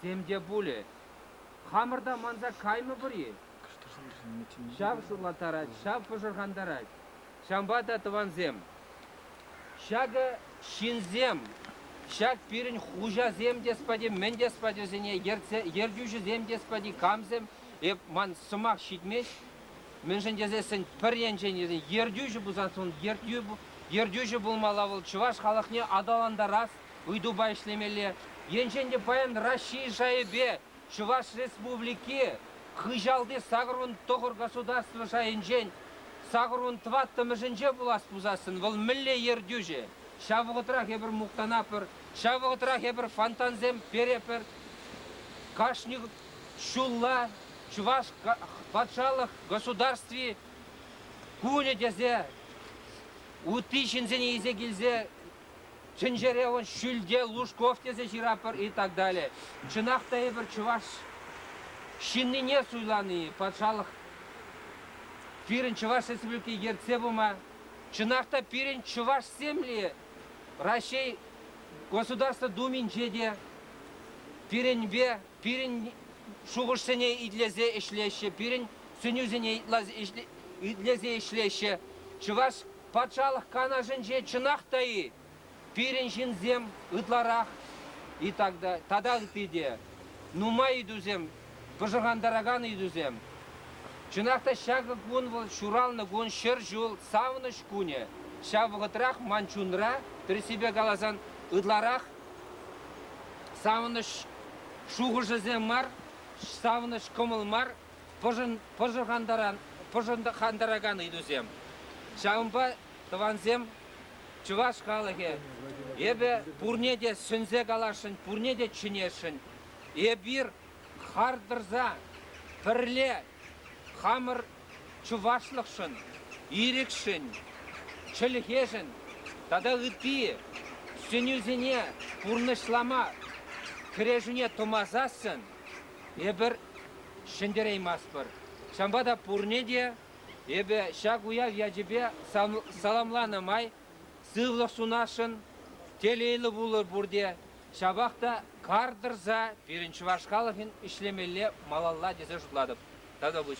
Тем те пулӗ, хамӑр та манса каймӑпӑр-и? Ҫав сывлаттарать, ҫав пӑшӑрхантарать. Ҫавӑнпа та, тӑвансем, ҫакӑ ҫынсем, ҫак пирӗн хуҫасем те спати, мӗн те спачӗсене ертсе, ертӳҫӗсем те спати, камсем, эп ман сӑмах ҫитмест, мӗншӗн тесессӗн пӗр енчен ертӳҫӗ пулсан, ертӳҫӗ пулмалла вӑл чӑваш халӑхне аталантарас ыйтупа ӗҫлемелле. Енчен те паян Раҫҫей шайӗпе Чӑваш Республики хыҫалти сакӑрвун тӑхӑр государство шайӗнчен сакӑрвун тӑваттӑмӗшӗнче пулас пулсассӑн вӑл мӗнле ертӳҫӗ? Ҫав вӑхӑтрах эпир мухтанатпӑр, ҫав вӑхӑтрах эпир фонтансем перепӗр. Кашни ҫулла Чӑваш патшалӑх государстви кунӗ тесе ытти ҫынсене илсе килсе Тӗнчере вӑл Ҫӳлте Лужков тесе ҫыратпӑр и так далее. Чӑнах та эпир чӑваш ҫыннине суйлани, патшалӑх пирӗн Чӑваш Республики ертсе пыма, чӑнах та пирӗн чӑвашсемле Раҫҫей Государство Думинче те пирӗнпе пирӗн шухӑшсене итлесе ӗҫлеҫҫӗ, пирӗн сӗнӳсене итлесе ӗҫлеҫҫӗ. Чӑваш Патшалӑх Канашӗнче чӑнах та-и пирӗн ҫынсем ытларах и тата ытти те нумай ыйтусем, пӑшӑрхантаракан ыйтусем. Чӑнах та ҫакӑ кун вӑл ҫуралнӑ кун, ҫӗр ҫул, савӑнӑҫ кунӗ. Ҫав вӑхӑтрах ман чунра, тӗрӗссипе каласан, ытларах савӑнӑҫ шухӑшӗсем мар, савӑнӑҫ кӑмӑл мар пӑшӑрхантаракан ыйтусем. Ҫавӑнпа тӑвансем, чӑваш халӑхӗ, эпӗ пурне те сӗнсе каласшӑн, пурне те чӗнесшӗн. Эпир хар тӑрса пӗрле хамӑр чӑвашлӑхшӑн, ирӗкшӗн, чӗлхешӗн тата ытти сӗнӳсене пурнӑҫлама, кӗрешӳне тӑмасассӑн Эпир ҫӗнтерейместпӗр. Ҫавӑнпа та пурне те эпӗ ҫак уяв ячӗпе саламланӑ май сывлӑх сунасшӑн, телейлӗ пулӑр пурте. Ҫапах та кар тӑрса пирӗн чӑваш халӑхӗн ӗҫлемелле малалла тесе шутлатӑп. Тата пуҫ.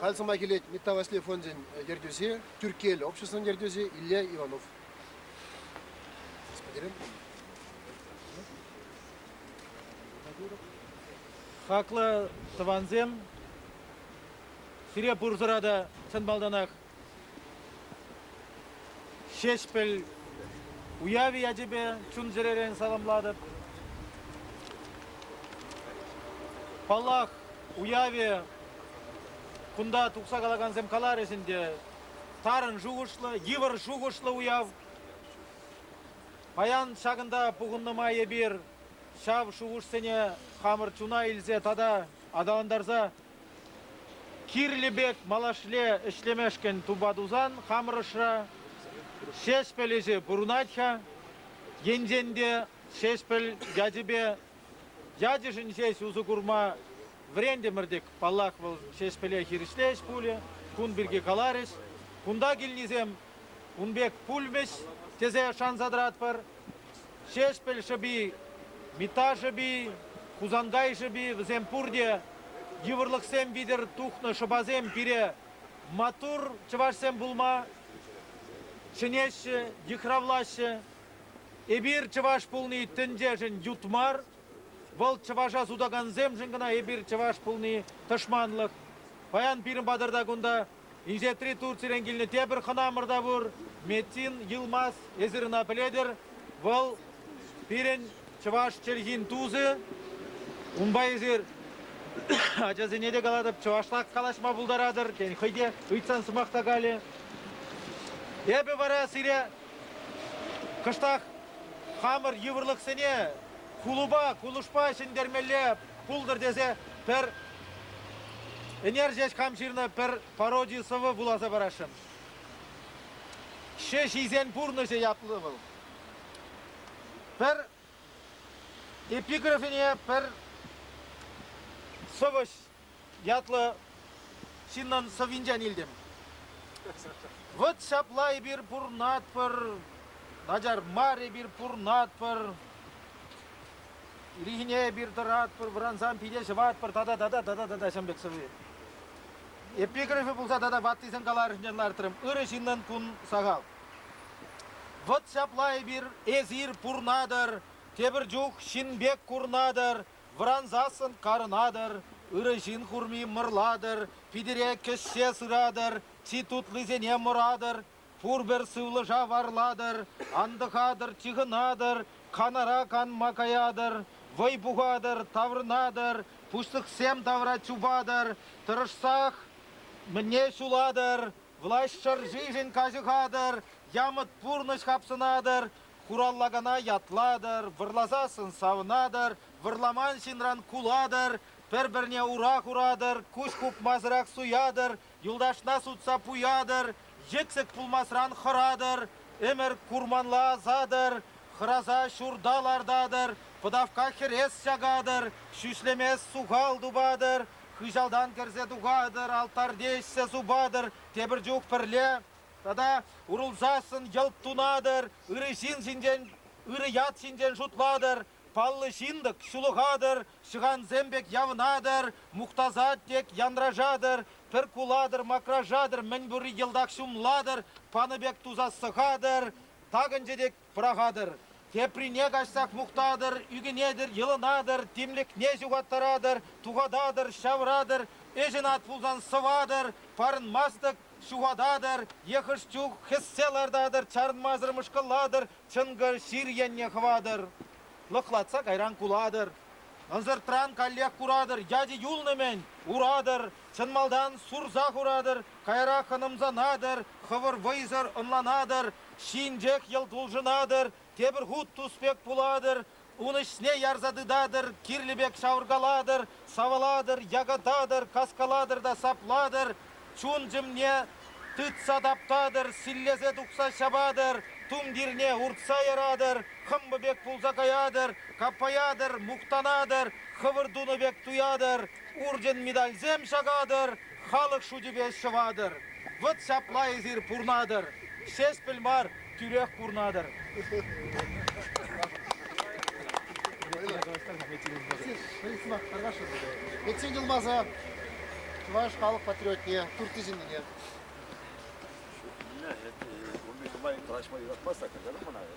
Халь сӑмах илет Митта Васли фончӗн ертӳҫи, Тӳрккел обществӑн ертӳҫи Илья Иванов. Господин. Хаклӑ тӑвансем, сире пурсӑра та чӑн малтанах Ҫеҫпӗл уявӗ ячӗпе чун-чӗререн саламлатӑп. Паллах, уявӗ кунта тухса калакансем каларӗҫ ӗнтӗ. Тарӑн шухӑшлӑ, йывӑр шухӑшлӑ уяв. Паян ҫакӑнта пухӑннӑ май эпир ҫав шухӑшсене хамӑр чуна илсе тата аталантарса Кирлӗ пек малашле ӗҫлемешкӗн тупа тусан хамӑр ӑшра Ҫеҫпӗл ӗҫӗ пурӑнать-ха. Енчен те Ҫеҫпӗл ячӗпе ячӗшӗн ҫеҫ усӑ курма вӗрентӗмӗр-тӗк, паллах, вӑл Ҫеҫпӗле хирӗҫле ӗҫ пулӗ, кун пирки каларӗҫ. Кунта килнисем ун пек пулмӗҫ тесе шанса тӑратпӑр. Ҫеҫпӗл шӑпи, Митта шӑпи, Хусанкай шӑпи вӗсем пурте йывӑрлӑхсем витӗр тухнӑ шӑпасем пире маттур чӑвашсем пулма чӗнеҫҫӗ, йыхравлаҫҫӗ. Эпир чӑваш пулни тӗнчешӗн ют мар, вӑл чӑваша сутакансемшӗн кӑна эпир чӑваш пулни тӑшманлӑх. Паян пирӗн патӑрта кунта Инҫетри Турцирен килнӗ тепӗр хӑнамӑр та пур, Метин Йылмаз. Эсир ӑна пӗлетӗр. Вӑл пирӗн чӑваш чӗлхин тусӗ. Унпа эсир ачасене те калатӑп, чӑвашла калаҫма пултаратӑр. Тен, хӑй те ыйтсан сӑмах та калӗ. Эпӗ вара сире кӑштах хамӑр йывӑрлӑхсене кулӑпа, кулӑшпа ҫӗнтермелле пултӑр тесе пӗр ӗнер ҫеҫ хам ҫырнӑ пӗр пароди сӑвӑ вуласа парасшӑн. Ҫӗҫ ҫисен пурнӑҫӗ ятлӑ вӑл. Пӗр эпиграфине пӗр сӑвӑҫ ятлӑ ҫыннӑн сӑввинчен илтӗм. Вот ҫапла эпир пурнатпӑр, начар мар эпир пурнатпӑр. Ирхине эпир тӑратпӑр, вӑрансан пире ҫӑватпӑр тата тата тата тата ҫӑм пек сӑви. Эпиграфи пулса тата ваттисен каларӑшне лартрӑм. Ырӑ ҫыннӑн кун сахал. Вӑт ҫапла эпир, эсир пурнатӑр, тепӗр чух ҫын пек курнатӑр, вӑрансассӑн карӑнатӑр, ырӑ ҫын курми мӑрлатӑр, питӗре кӗҫҫе сыратӑр, чи тутлисене мӑратӑр, Пурпӗр сывлӑша варлатӑр, антӑхатӑр, чыхӑнатӑр, канара канма каятӑр, вӑй пухатӑр, таврӑнатӑр, пуҫлӑхсем тавра чупатӑр, тӑрӑшсах мӗне ҫулатӑр, влаҫ шӑршишӗн каҫӑхатӑр, ямӑт пурнӑҫ хапсӑнатӑр, хураллакана ятлатӑр, вӑрласассӑн савӑнатӑр, вӑрламан ҫынран кулатӑр, пӗр-пӗрне ура хуратӑр, куҫ хупмасӑрах суятӑр, Юлташна сутса пуятӑр, йӗксӗк пулмасран хӑратӑр, ӗмӗр курманла асатӑр, хӑраса ҫурта лартатӑр, пӑтавка хӗрес чакатӑр, ҫӳҫлемес сухал тупатӑр, хыҫалтан кӗрсе тухатӑр, алтарьте ӗҫсе супатӑр, тепӗр чух пӗрле тата урӑлсассӑн йӑлт тунатӑр, ырӑ ҫын ҫинчен, ырӑ ят ҫинчен шутлатӑр, Паллӑ ҫын-тӑк, ҫулӑхатӑр, ҫӑхансем пек явӑнатӑр, мухтасат тек, янрашатӑр, пӗр кулатӑр, макрашатӑр, мӗн пурри йӑлтах ҫумлатӑр, панӑ пек тусас сӑхатӑр, такӑнчӗ тек пӑрахатӑр. Теприне каҫсах мухтатӑр, ӳкӗнетӗр, йӑлӑнатӑр, тимлӗхне ҫухаттаратӑр, тухататӑр, ҫавӑратӑр, ӗҫӗн ат пулсан сӑватӑр, парӑнмастӑк ҫухататӑр е хӑш чух хӗссе лартатӑр, чарӑнмасӑр мӑшкӑллатӑр, чӑнкӑ сир енне хӑватӑр, лӑхлатса кайран кулатӑр. Ӑнсӑртран каллех куратӑр, ячӗ юлнӑ-мӗн, уратӑр, чӑн малтан сурса хуратӑр, каярах ӑнӑмсанатӑр, хӑвӑр вӑйсӑр ӑнланатӑр, ҫинчех йӑлт улшӑнатӑр, тепӗр хут тус пек пулатӑр, Ун ӗҫне ярса тытатӑр, кирлӗ пек шавӑркалатӑр, савӑлатӑр, якататӑр, каскалатӑр та саплатӑр, чун-чӗмне тытса таптатӑр, силлесе тухса ҫапатӑр, тумтирне уртса яратӑр, хӑмпӑ пек пулса каятӑр, каппаятӑр, мухтанатӑр, хӑвӑр тунӑ пек туятӑр, урчӑн медальсем ҫакатӑр, Халӑх шучӗпе ҫӑватӑр, вӑт ҫапла эсир пурнатӑр, Ҫеҫпӗл мар, тӳрех курнатӑр. Пӗччен юлмасан чӑваш халӑх патриотне, Турти ҫыннине. Ӗнле, курни нумай, калаҫма юратмастах, каҫарӑр мана.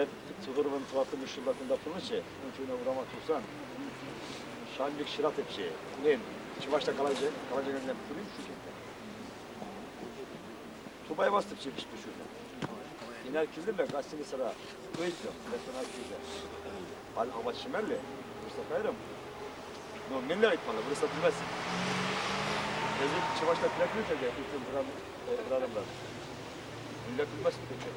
Эп Цугуровӑн тӑваттӑмӗш ҫулта кунта пурӑннӑччӗ. Ун чуна урама тухсан ҫавӑн пек ҫыратӑпчӗ. Мен чӑвашла калаҫа калаҫаканне пулин шучетте. Тупай бастӑпчӗ пиҫпе ҫутӑ. Инар килдӗмӗ гостиницара ыйттӑм, ресторан килсе. Паль апат ҫимелле, вырса кайрӑм. Ну, мӗнле айтмалла, вырса тумасть. Эсир чӑвашла пӗлетмесӗр те ыттим хӑрарӑмлар. Мӗнле тумасть пӗччен.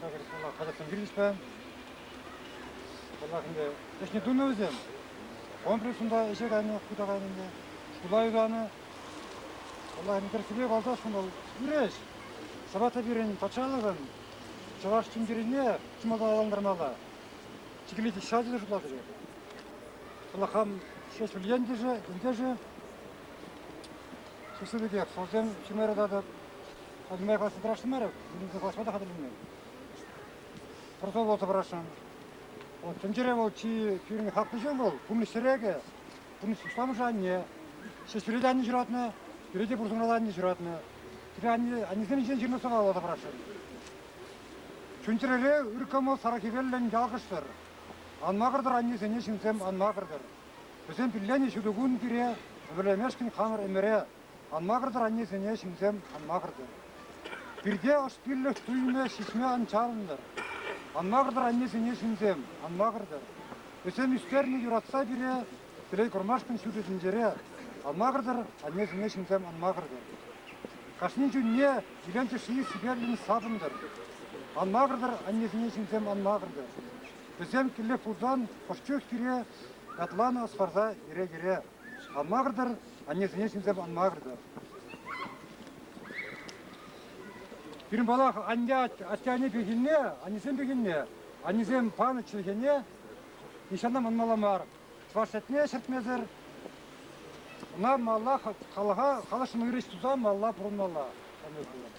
Ҫакӑн вӑла казаксем килчӗҫ-пе. Вӑлах ӗнтӗ ӗҫне тунӑ вӗсем. Комплекс унта ӗҫе кайнӑ, хута кайнӑ ӗнтӗ. Ҫула юсанӑ. Вӑлах ӗнтӗ тӗрӗссипе калсан, вӑл ӳреш. Ҫапах та пирӗн патшалӑхӑн чӑваш тумтирине чи малта аталантармалла. Чикӗлет ҫачӗ те шутлатӑр. Вӑла хам ҫеҫ пӗл ентӗшӗ, ентешӗ. Чисӗ пекех, сӑлсем ҫимере татӑп. Хатӗрме каласа тӑрашмарӗ, вилӗмсӗр калаҫма та хатӗрленмен. Пӑрса каласа пӑрашрӑм. Вот тӗнчере вӑл чи пирӗн хаклӑ ҫын вӑл, пурнӑҫ тӗрекӗ, пурнӑҫ усламӑшӗ анне. Ҫеҫ пире те анне ҫуратнӑ, пире те пурсӑмӑралла анне ҫуратнӑ. Пире анне, аннесен ӗҫӗн ҫырнӑ сӑвва каласа пӑрашрӑм. Чун-чӗрере ыр кӑмӑл сарӑ хӗвеллӗн ялкӑштӑр. Ан макӑртӑр аннесене ҫынсем, ан макӑртӑр. Вӗсем пилленӗ ҫутӑ кун пире, ӗмӗрлемешкӗн хамӑр ӗмӗре, Ан макӑртӑр аннесене ҫынсем, ан макӑртӑр. Пирте ӑш пиллӗх туйӑмӗ ҫиҫме ан чарӑнтӑр. Ан макӑртӑр аннесене ҫынсем, ан макӑртӑр. Вӗсем ӳстернӗ юратса пире телей курмашкӑн ҫутӑ тӗнчере. Ан макӑртӑр аннесене ҫынсем, ан макӑртӑр. Кашни чунне илем тӗшши сипетлӗн сапӑнтӑр. Ан макӑртӑр аннесене ҫынсем, ан макӑртӑр. Вӗсем киллех пулсан ӑш чух пире ятланӑ ӑс парса йӗре-йӗре. Шанмарӑр-тӑр, аннесене чӗнсе манмарӑр-тӑр. Пирӗн палах анне атте-анне пехилне, аннесем пехилне, аннесем панӑ чӗлхене нихҫана манмалла мар. Чӑваш чӗлхене ҫӗртмесӗр ӑна малла халӑха, халӑхшӑн ырӑҫ туса малла пурӑнмалла. Анне пулать.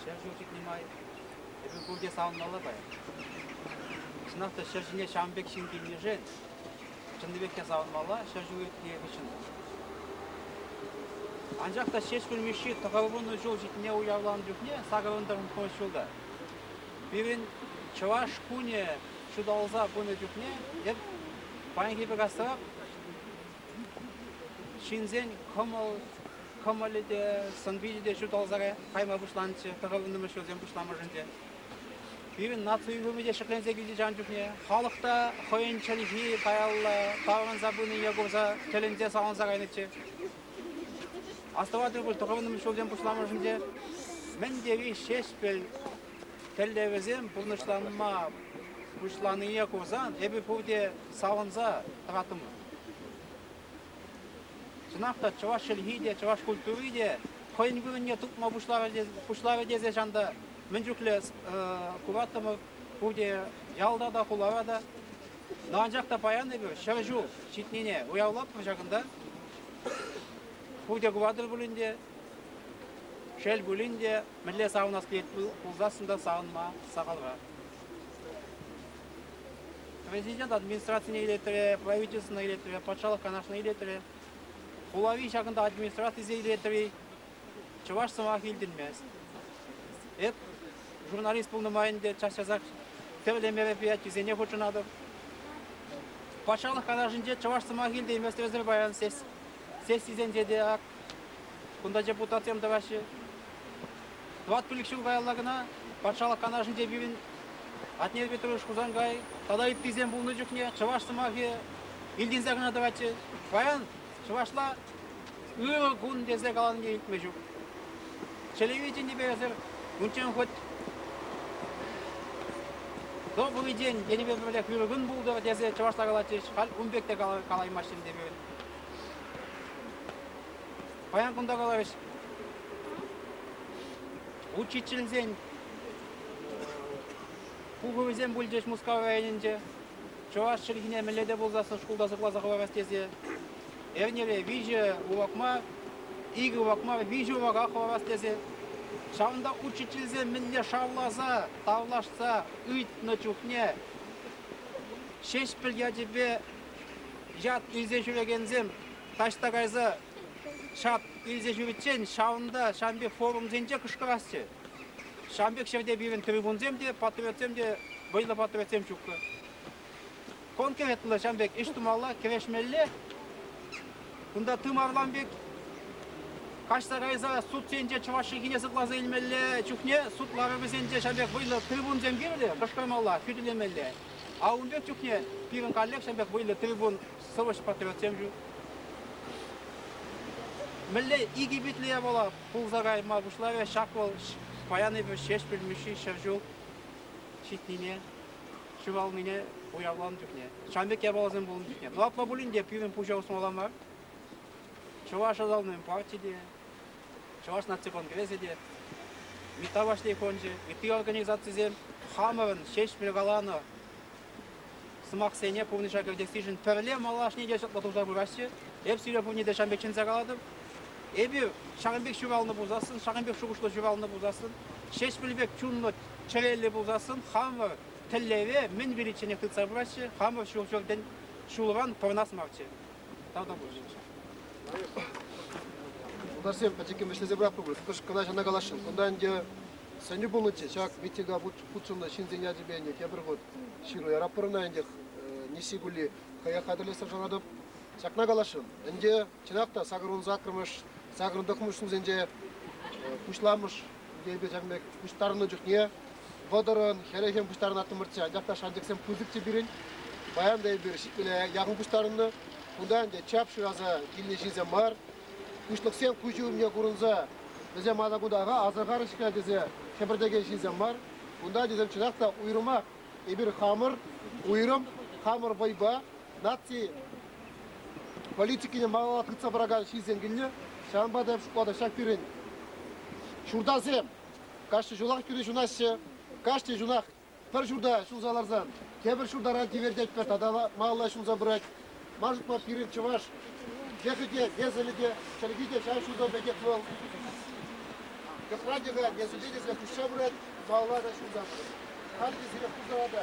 Ҫӗр ҫул ҫитнӗ май эпир пурте савӑнмалла паян. Чӑнах та ҫӗр ҫине ҫавӑн пек ҫын килнишӗн чӑннипех те савӑнмалла ҫӗр ҫул иртнӗ хыҫҫӑн та. Анчах та Ҫеҫпӗл Мишши тӑхӑрвуннӑ ҫул ҫитнине уявланӑ чухне сакӑрӑн-тӑрӑн пурӑнас ҫулта пирӗн Чӑваш кунӗ ҫуталса пынӑ чухне эп паянхи пек асрах Ҫынсен кӑмӑлӗ те, сӑн-пичӗ те ҫуталса кайма пуҫланчӗ тӑхӑннӑмӗш ҫулсем пуҫламӑшӗнче. Пирӗн наци уйрӑмӗ те ҫӗкленсе килчӗ ҫав чухне. Халӑх та хӑйӗн чӗлхи каялла таврӑнса пынине курса тӗлӗнсе савӑнса кайнӑччӗ. Астӑватӑр пуль тӑхӑннӑмӗш ҫулсем пуҫламӑшӗнче мӗн тери ҫеҫпӗл тӗллевӗсем пурнӑҫланма пуҫланине курсан эпир пурте савӑнса тӑраттӑмӑр. Чӑнах та чӑваш чӗлхи те, чӑваш культури те хӑйӗн вырӑнне тупма пуҫларӗ тесе чан та мӗн чухлӗ кураттӑмӑр пурте ялта та, хулара та. Daha анчах та паян эпир ҫӗр ҫул ҫитнине уявлатпӑр ҫакӑнта. Пурте куратӑр пулин те, шел пулин те, мӗнле савӑнас килет пулсассӑн та савӑнма сахалра. Президент администрацине илетрӗ, правительствӑна илетрӗ, патшалӑх канашне илетрӗ. Хулари ҫакӑнта администрацисене илетрӗ. Чӑваш сӑмах илтӗнмест. Эп журналист пулнӑ май ӗнтӗ час-часах тӗрлӗ мероприятисене хутшӑнатӑп. Патшалӑх канашӗнче чӑваш сӑмах илтейместерсӗр паян сес сессисенче те ак кунта депутатсем тӑваҫҫӗ. Тӑват пилӗк ҫул каялла кӑна Патшалӑх Канашӗнче пирӗн Атнер Петрович Хусанкай тата ыттисем пулнӑ чухне чӑваш сӑмахӗ илтӗнсе кӑна тӑватчӗ. Паян чӑвашла ырӑ кун тесе каланине илтме ҫук. Чӗлӗве чӗннипе эсир унччен хоть добрый день тенипе пӗрлех ырӑ кун пултӑр тесе чӑвашла калатчӗҫ, халь ун пек те калаймаҫҫӗ ӗнтӗ пирӗн. Паян кунта каларӗҫ. Учительсен пухӑвӗсем пулчӗҫ Мускав районӗнче. Чӑваш чӗлхине мӗнле те пулсассӑн шкулта сыхласа хӑварас тесе. Эрнере виҫӗ урокма, икӗ урокма виҫӗ урока хӑварас тесе. Ҫавӑнта учительсем мӗнле шавласа, тавлашса ыйтнӑ чухне Ҫеҫпӗл ячӗпе Ят илсе ҫӳрекенсем таҫта кайса ҫат илсе ҫӳриччен ҫавӑнта ҫав пек форумсенче кӑшкӑрасчӗ. Ҫав пек ҫӗрте пирӗн трибунсем те, патриотсем те, вӑйлӑ патриотсем ҫуккӑ. Конкретлӑ ҫав пек ӗҫ тумалла, кӗрешмелле. Кунта тымарлан пек каҫса кайса судсенче чӑваш чӗлхине сыхласа илмелле чухне суд ларӑвӗсенче ҫав пек вӑйлӑ трибунсем кирлӗ, кӑшкӑрмалла, хӳтӗлемелле. А ун пек чухне пирӗн коллекцин пек вӑйлӑ трибун сӑвӑҫ-патриотсем ҫук. Мӗнле икӗ питлӗе пула пулса кайма пуҫларӗ ҫак вӑл паянипе Ҫеҫпӗл Мишши ҫӗр ҫул ҫитнине, ҫуралнине уявланӑ чухне, ҫамрӑк япаласем пулнӑ чухне. Платла пулин те пирӗн пуҫа усмалла мар. Чӑваш ӑсалнин парти те, Чӑваш наци конгресӗ те, МИТа Вашни фончӗ, ытти организацисем хамӑрӑн Ҫеҫпӗл каланӑ сӑмахсене пурнӑҫа кӗртессишӗн пӗрле малашне те чӑтлӑ туса пыраҫҫӗ. Эп сире пурне те ҫамрӑк чӗнсе калатӑп. Эпир ҫакӑн пек ҫуралнӑ пулсассӑн, ҫакӑн пек шухӑшлӑ ҫуралнӑ пулсассӑн, Ҫеҫпӗл пек чунлӑ чӗреллӗ пулсассӑн, хамӑр тӗллеве мӗн виличченех тытса пыраҫҫӗ, хамӑр ҫул-ҫуртӑн ҫулран пӑрӑнас марччӗ. Тата пулчӗ. Тутарсем пӗчӗккӗн вӗҫлесе пыратпӑр пуль. Кӑшт кӑна ҫавна каласшӑн. Кунта ӗнтӗ сӗнӳ пулнӑччӗ. Ҫак митинга хутшӑннӑ ҫынсен ячӗпе ӗнтӗ тепӗр хут ҫыру яратпӑр ӑна ӗнтӗ. Несси кулли хӑех хатӗрлессе шанатӑп. Ҫакна каласшӑн. Ӗнтӗ чӑнах та сакӑрвун саккӑрмӗш, сакӑрӑн тӑхмӑш ҫулсенче пуҫламӑш Йӗпе-ҫан пек пуҫтарӑннӑ чухне вӑтӑрӑн, хӗлӗхӗн пуҫтарӑнаттӑмӑрччӗ. Анчах та шанчӑксем пысӑк те пирӗн. Паян та эпир ҫитмӗле яхӑн пуҫтарӑннӑ. Кунта ӗнтӗ чап шыраса килнӗ ҫынсем мар. Пуҫлӑхсем куҫӗ умне курӑнса вӗсем атакутаха асӑрхарӗҫ-ха тесе хӗпӗртекен ҫынсем мар. Кунта тесем чӑнах та уйрӑмах эпир хамӑр, уйрӑм хамӑр вӑйпа наци политикине малалла тытса пыракан ҫынсем килнӗ. Ҫавӑнпа та шутлатӑп ҫак пирӗн ҫуртасем кашни ҫулах тӳре ҫунаҫҫӗ. Кашни ҫунах пӗр ҫурта ҫулса ларсан тепӗр ҫуртаран тивертетпӗр тата малалла ҫунса пырать. Ман шутпа пирӗн чӑваш йӑхӗ те, несӗлӗ те, чӗлхи те ҫав ҫутӑ пекех вӑл кӑсра те, несӗле те куҫса пырать, малалла та ҫунса пырать. Халӗ те сире пултӑра та